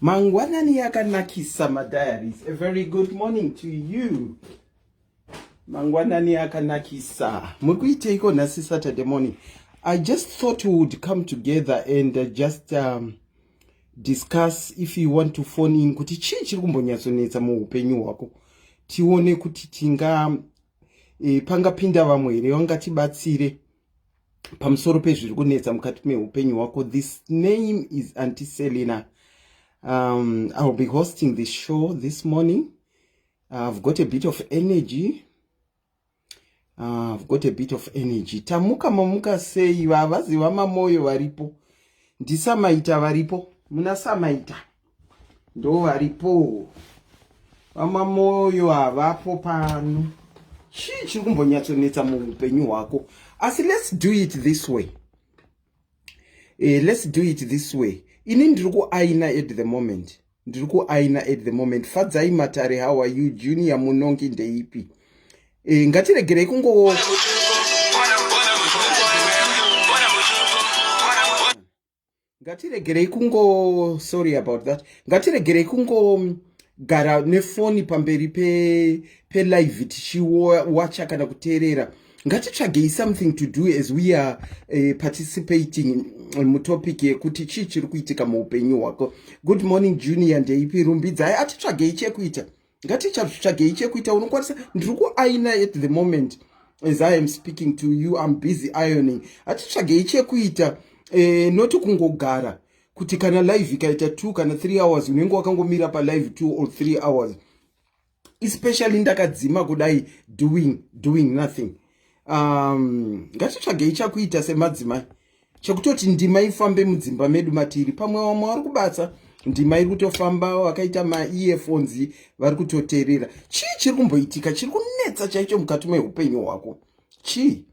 mangwanani yakanakisa madiaries a very good morning to you mangwanani akanakisa muri kuiteiko nhasi saturday morning i just thought we would come together and uh, just um, discuss if you want to phone in kuti chii chiri kumbonyatsonetsa muupenyu hwako tione kuti tinga e, pangapinda vamwe here vangatibatsire pamusoro pezviri kunetsa mukati meupenyu hwako this name is anti selina um, iwill be hosting this show this morning i've got a bit of energy Ah, got a bit of energy tamuka mamuka sei vavazi vamamoyo varipo ndisamaita varipo muna samaita ndo varipo vamamoyo havapo pano chii chiri kumbonyatsonetsa muupenyu hwako asi let's do it this way eh, let's do it this way ini ndiri kuaina at the moment ndiri kuaina at the moment fadzai matare how are you junior munongi ndeipi e, ngatiregerei kungo ngatiregerei kungo sorry about that ngatiregerei kungo gara nefoni pamberi pelive pe tichiwacha kana kuteerera ngatitsvagei something to do as we are uh, participating mutopic yekuti chii chiri kuitika muupenyu hwako good morning junior ndeipi rumbidzai atitsvagei chekuita ngatichazvitsvagei chekuita unokwanisa ndiri kuaina at the moment as i am speaking to you im busy ioning hatitsvagei chekuita eh, noti kungogara kuti kana live ikaita two kana three hours unenge wakangomira palive two or three hours especially ndakadzima kudai doing doing nothing um ngatitsvagei chakuita semadzimai chekutoti ndima ifambe mudzimba medu matiri pamwe vamwe vari kubatsa ndima iri kutofamba vakaita maearphones vari kutoterera chii chiri kumboitika chiri kunetsa chaicho mukati meupenyu hwako chii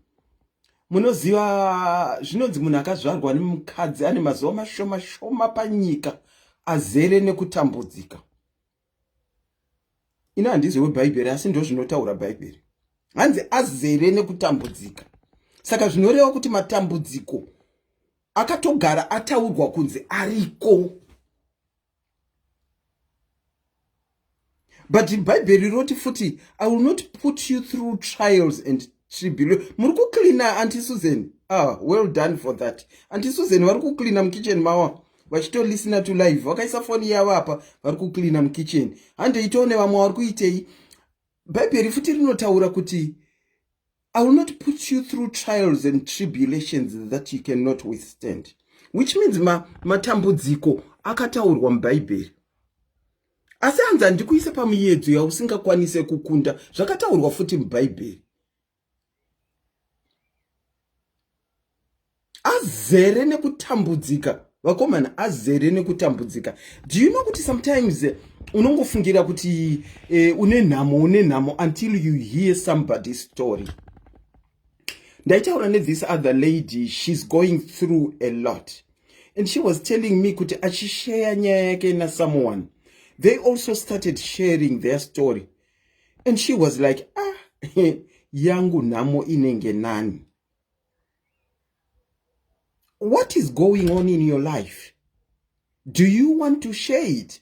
munoziva zvinonzi munhu akazvarwa nemukadzi ane mazuva mashoma shoma panyika azere nekutambudzika ini handizi webhaibheri asi ndozvinotaura bhaibheri hanzi azere nekutambudzika saka zvinoreva kuti matambudziko akatogara ataurwa kunzi ariko but bhaibheri roti futi i will not put you through trials and tribulation muri kucleana anti susan ah well done for that anti susan vari kucleana mukichen mawa vachitolisina to live vakaisa foni yavo apa vari kucleana mukitchen hande itawo nevamwe vari kuitei bhaibheri futi rinotaura kuti i will not put you through trials and tribulations that you cannot withstand which means matambudziko ma akataurwa mubhaibheri asi hanzi handikuisa pamuyedzo yausingakwanise kukunda zvakataurwa futi mubhaibheri azere nekutambudzika vakomana azere nekutambudzika do you know kuti sometimes eh, unongofungira kuti eh, une nhamo une nhamo until you hear somebody story ndaitaura nethis other lady she's going through a lot and she was telling me kuti achisheya nyaya yake nasomeone they also started sharing their story and she was like ah yangu nhamo inenge nani what is going on in your life do you want to share it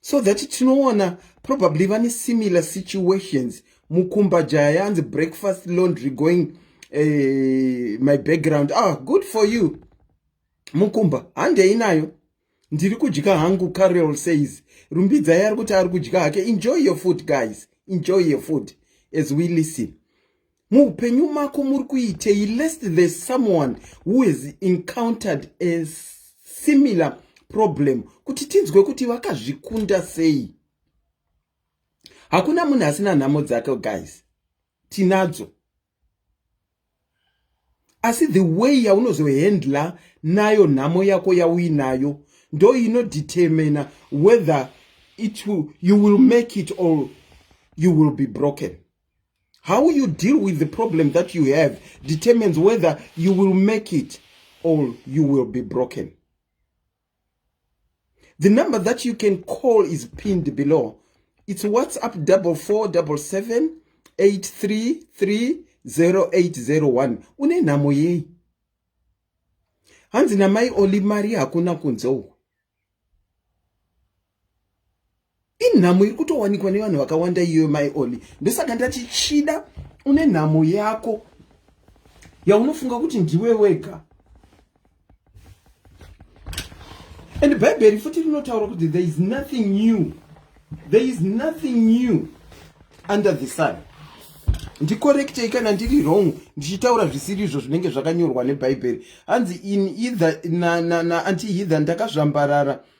so that tinoona probably vane similar situations mukumba jaya yanzi breakfast laundry going uh, my background ah good for you mukumba handei nayo ndiri kudya hangu carol says rumbidzai ari kuti ari kudya hake enjoy your food guys enjoy your food as we listen muupenyu mako muri kuitei lest there's someone who has encountered a similar problem kuti tinzwe kuti vakazvikunda sei hakuna munhu asina nhamo dzake guys tinadzo asi the way yaunozohandler nayo nhamo yako yauinayo ndo inodetermina whether it will, you will make it or you will be broken how you deal with the problem that you have determines whether you will make it or you will be broken The number that you can call is pinned below. It's WhatsApp 4477833080 une nhamo yei hanzi namai oli mari hakuna kunze uku inhamo iri kutowanikwa nevanhu vakawanda iyoyo mai oli ndosaka ndati chida une nhamo yako yaunofunga kuti ndiwe wega and bhaibheri futi rinotaura kuti there is nothing new there is nothing new under the sun ndikorektei kana ndiri wrong ndichitaura zvisiri izvo zvinenge zvakanyorwa nebhaibheri hanzi in either naanti na, na, heather ndakazvambarara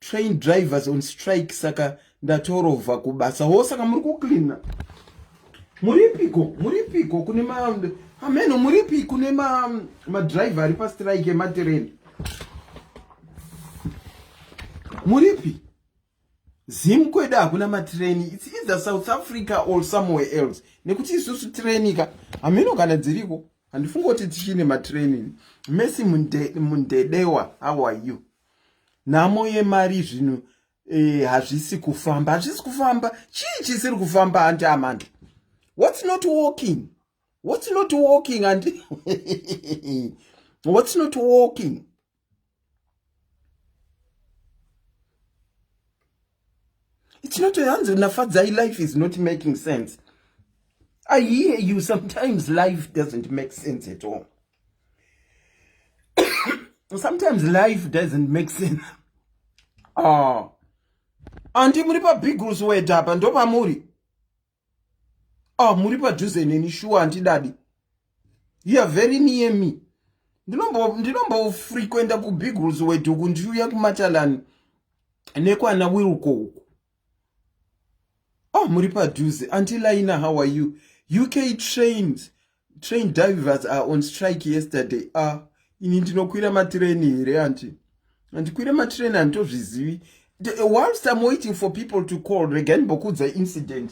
train drivers on strike saka ndatorovha kubasa ho saka muri kucleana muripiko muripiko kune ma ameno muripi kune ma madriver ari pastrike ematireni muripi zim kwedu hakuna matireni its either south africa or somewhere else nekuti isusu tirenika hameno kana dziriko handifungi kuti tichine matireni mesi mundedewa how are you nhamo yemari zvinhu eh, hazvisi kufamba hazvisi kufamba chii chisiri kufamba hanti amanda what's not walking what's not walking and what's not walking it's not hanzi nafadzai life is not making sense i hear you sometimes life doesn't make sense at all sometimes life doesn't make sense oh. andi muri pabigls wed apa ndopamuri oh, muri padhuze neni shuwa handidadi youare very near me ndinombofrequenta kubigls wed uku ndiuya kumatalani nekwana wilko uku Oh, muri padhuze. Auntie Laina, how are you? UK trains, train divers are on strike yesterday. Ah, ini ndinokwira matireni here anti? Andikwira matireni anditozvizivi. Whilst I'm waiting for people to call, regai ndimbokuudza incident.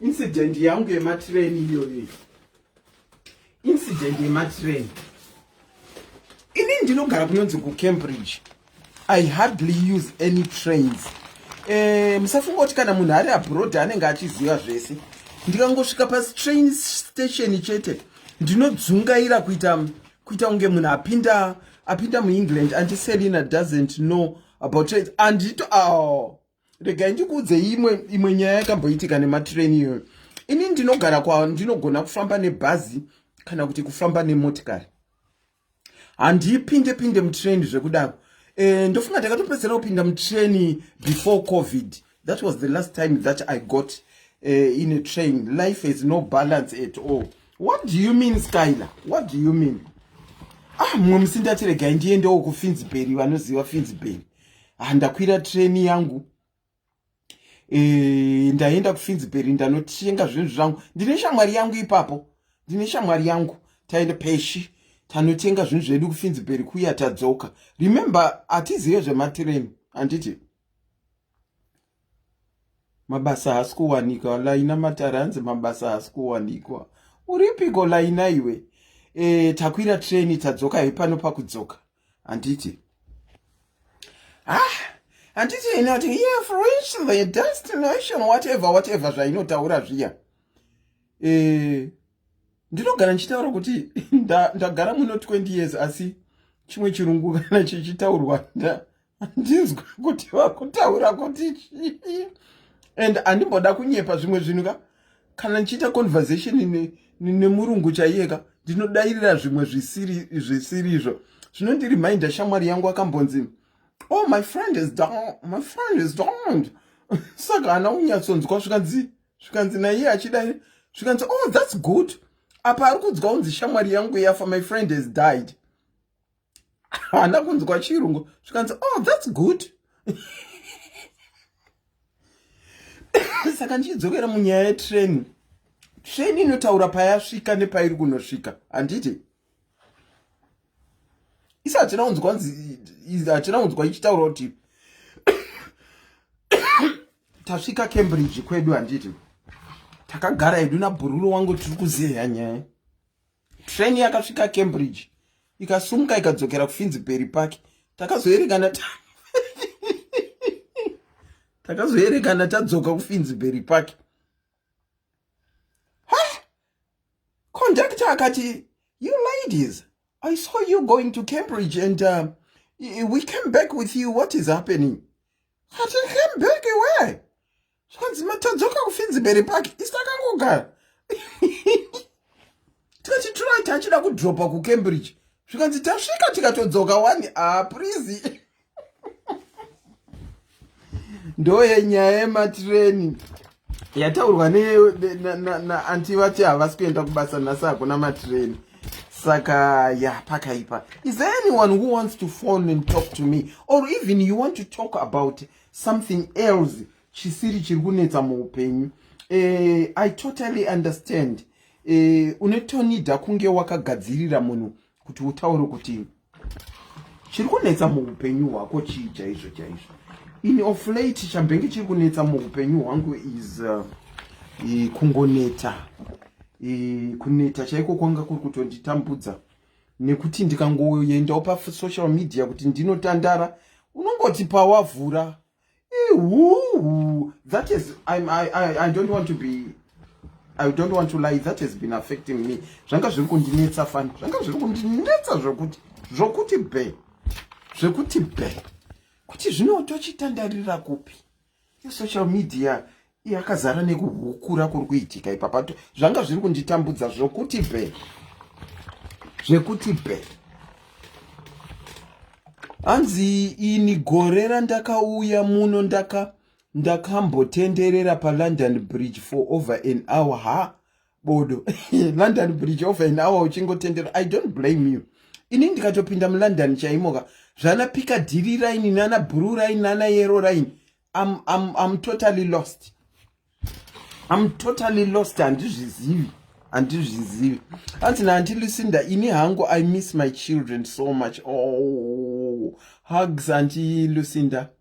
Incident yangu yematireni iyoyo. incident yematrain ini ndinogara kunonzi kucambridge i hardly use any trains eh, musafunga kuti kana munhu ari abroad anenge achiziva zvese ndikangosvika pastrain station chete ndinodzungaira kuita kuita kunge munhu apinda apinda muengland anti selina doesn't know about it andito aw oh. regai ndikuudze imwe imwe nyaya yakamboitika nematreni iyoyo ini ndinogara kwa ndinogona kufamba nebhazi kana kuti kufamba nemotikari handipinde pinde mutreni zvekudaro e, ndofunga ndakatopedzera kupinda mutreni before covid that was the last time that i got uh, in a train life has no balance at all what do you mean skyler what do you mean ah mumwe musi ndatiregai ndiendewo kufinziberi vanoziva finziberi ah, ndakwira train yangu e, eh, ndaenda kufinziberi ndanotenga zvinhu zvangu ndine shamwari yangu ipapo ndine shamwari yangu taenda peshi tanotenga zvinhu zvedu kufinziberi kuya tadzoka remember hatizive zvematireni handiti mabasa haasi kuwanikwa laina matare hanzi mabasa haasi kuwanikwa uripiko laina iwe e, takwira treni tadzoka hepano pakudzoka handiti ah handiti ini ati yeah, for which the destination whatever whatever zvainotaura zviya e, ndinogara ndichitaura kuti ndagara nda muno 20 years asi chimwe chirungu kana chichitaurwa handinzwe kuti vakutaura kuti chii and handimboda kunyepa zvimwe zvinhu ka kana ndichiita conversation nemurungu ne, ne chaiye ka ndinodairira zvimwe zvisiri zvisiri izvo zvinondiriminder shamwari yangu akambonzi oh my friend is down my friend is down saka hana unyatsonzwa zvikanzi zvikanzi naiye achidai zvikanzi oh that's good apa ari kunzwa unzi shamwari yangu yafa my friend has died haana kunzwa chirungu zvikanzi oh thats good saka ndichidzokera munyaya yetreni treni inotaura payasvika nepairi kunosvika handiti isi hatina kunzwa nzi hatina kunzwa ichitaura kuti tasvika cambridge kwedu handiti takagara hedu nabhururo wangu tiri kuzeya nyaya train yakasvika cambridge ikasumuka ikadzokera kufinziberi park takazoerekana ta takazoerekana tadzoka kufinziberi park conductor akati you ladies i saw you going to cambridge and uh, we came back with you what is happening ati came back where zvanzi matadzoka kufinzibere park isi takangogara tikati turai tachida kudropa kucambridge zvikanzi tasvika tikatodzoka wani aprizi ah, ndoye nyaya yematireni yataurwa naanti vati havasi kuenda kubasa nhasi hakuna matireni saka ya pakaipa is there anyone who wants to phone and talk to me or even you want to talk about something else chisiri chiri kunetsa muupenyu eh, i totally understand eh, unetonida kunge wakagadzirira munhu kuti utaure kuti chiri kunetsa muupenyu hwako chii chaizvo chaizvo in of late chambenge chiri kunetsa muupenyu hwangu is uh, kungoneta kuneta chaiko kwanga kuri kutonditambudza nekuti ndikangoendawo pasocial media kuti ndinotandara unongoti pawavhura ihuhu that is I'm, I, I, i don't want to be i don't want to lie that has been affecting me zvanga zviri kundinetsa fani zvanga zviri kundinetsa zvokuti zvokuti be zvekuti be kuti zvino tochitandarira kupi social media yakazara nekuhukura kuri kuitika ipapa zvanga zviri kunditambudza zvokuti be zvekuti be hanzi ini gore randakauya muno ndaka ndakambotenderera palondon bridge for over an hour ha bodo london bridge over an hour uchingotendera i don't blame you ini ndikatopinda mulondon chaimoka zvana pika dhiri raini nana bhuru raini nana yero raini I'm, I'm, I'm totally lost I'm totally lost handizvizivi handizvizivi hanzi naanti lucinda ini hangu i miss my children so much oh hugs anti lucinda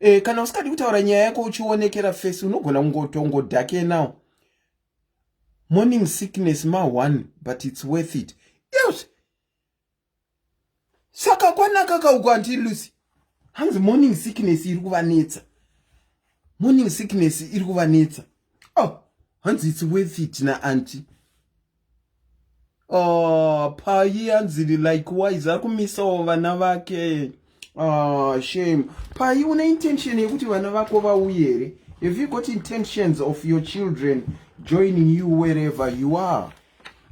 e, kana usikadi kutaura nyaya yako uchionekera face unogona kungotongo dake now morning sickness ma one but it's worth it yes saka kwanaka kauko anti lucy hanzi morning sickness iri kuvanetsa morning sickness iri kuvanetsa oh hanzi it's worth it na anti Ah, payi yanzili likewise ari kumisawo vana vake ah, shame payi une intention yekuti vana vako vauye here have you got intentions of your children joining you wherever you are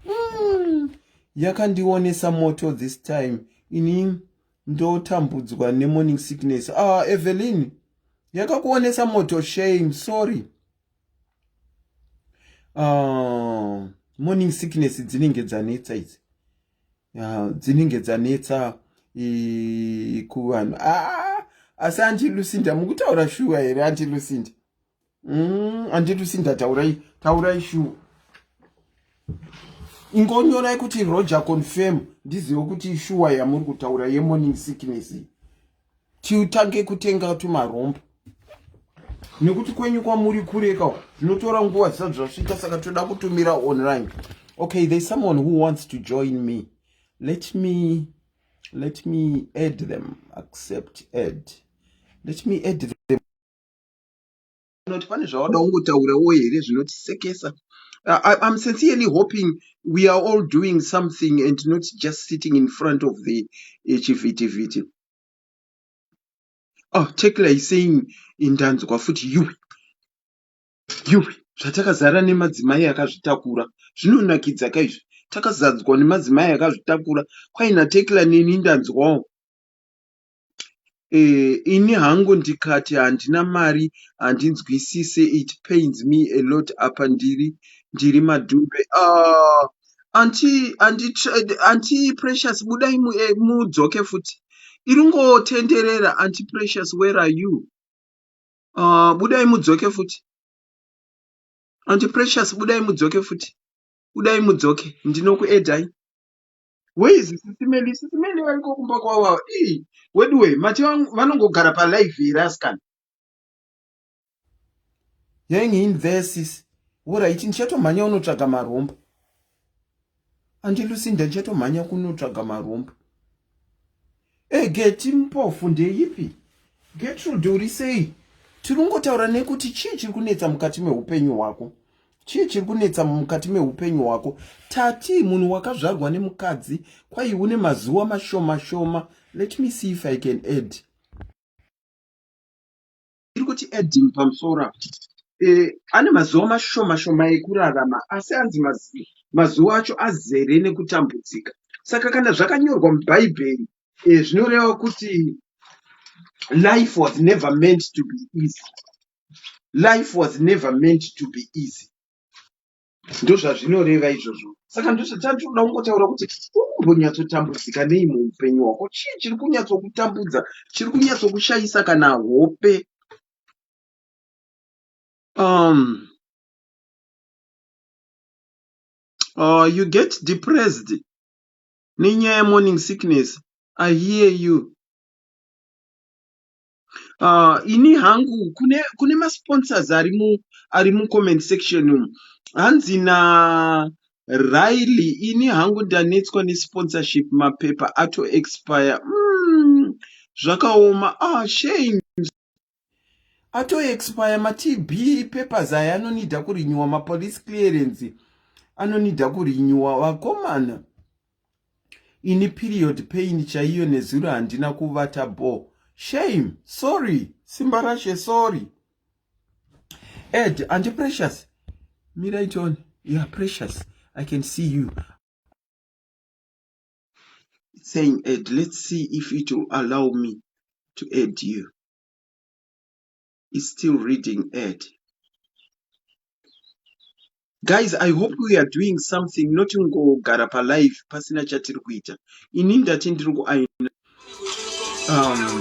mm. yakandionesa moto this time ini ndotambudzwa nemorning sickness ah, evelyn yakakuonesa moto shame sorry uh, morning sickness dzinenge dzanetsa idzi uh, dzinenge dzanetsa kuvanhu ah, asi ah, anti lucinda mukutaura shuwa here anti lucinda mm, anti lucinda taurai taurai shuwa ingonyorai kuti roger confirm ndizive kuti shuwa yamuri kutaura yemorning sickness tiutange kutenga tumarombo nekuti kwenyu kwamuri kureka zvinotora nguva zvisati zvasvika saka toda kutumira online okay there's someone who wants to join me let me let me add them accept add let me add them Not pane zvawada kungotaurawo here zvinotisekesa. I, I'm sincerely hoping we are all doing something and not just sitting in front of the eh, chivhiti vhiti. Oh, Tekla is saying indanzwa futi yuwi yuwi zvatakazara nemadzimai akazvitakura zvinonakidza ka izvi takazadzwa nemadzimai akazvitakura kwaina Tekla neni ndanzwawo ini hangu ndikati handina mari handinzwisise it pains me a lot apa ndiri ndiri madhumbe aah anti anti anti precious budai eh, mudzoke futi iri ngotenderera anti precious where are you uh, budai mudzoke futi anti precious budai mudzoke futi budai mudzoke ndinokuedai where is sisi meli sisi meli variko kumba kwavo ava ii weduwe mati vangu- vanongogara palive here asikana yang invesis orit ndichatomhanya unotsvaga marombo andilusinda ndichatomhanya kunotsvaga marombo E Geti mpofu ndeyipi? Getrude uri sei? Tiri kungotaura nekuti chii chiri kunetsa mukati meupenyu hwako? Chii chiri kunetsa mukati meupenyu hwako? Tati munhu wakazvarwa nemukadzi kwai une mazuva mashoma shoma. Let me see if I can add. Ndiri kuti adding pamusoro apa eh, ane mazuva mashoma shoma ekurarama asi anzi mazi- mazuva acho azere nekutambudzika. Saka kana zvakanyorwa muBhaibheri eh, zvinoreva kuti life was never meant to be easy. Life was never meant to be easy. ndozvazvinoreva izvozvo saka ndozvatatoda kungotaura kuti umbonyatsotambudzika nei muupenyu hwako chii chiri kunyatsokutambudza chiri kunyatsokushayisa kana hope um, uh, you get depressed nenyaya yemorning sickness i hear you Ini hangu kune masponsors ari mucomment section umu hanzi naRailly ini hangu ndanetswa nesponsorship mapepa ato expire umm zvakaoma ah shame ato expire matb papers aya anonida kurinyiwa mapolice clearance anonida kurinyiwa vakomana ini period pain chaiyo nezuro handina kuvata bo shame sorry simba rashe sorry ed andi precious mirai tione you are precious i can see you saying ed let's see if it will allow me to aid you is still reading ad guys i hope we are doing something not kungogara palive pasina chatiri kuita ini ndati ndiri kuaina um,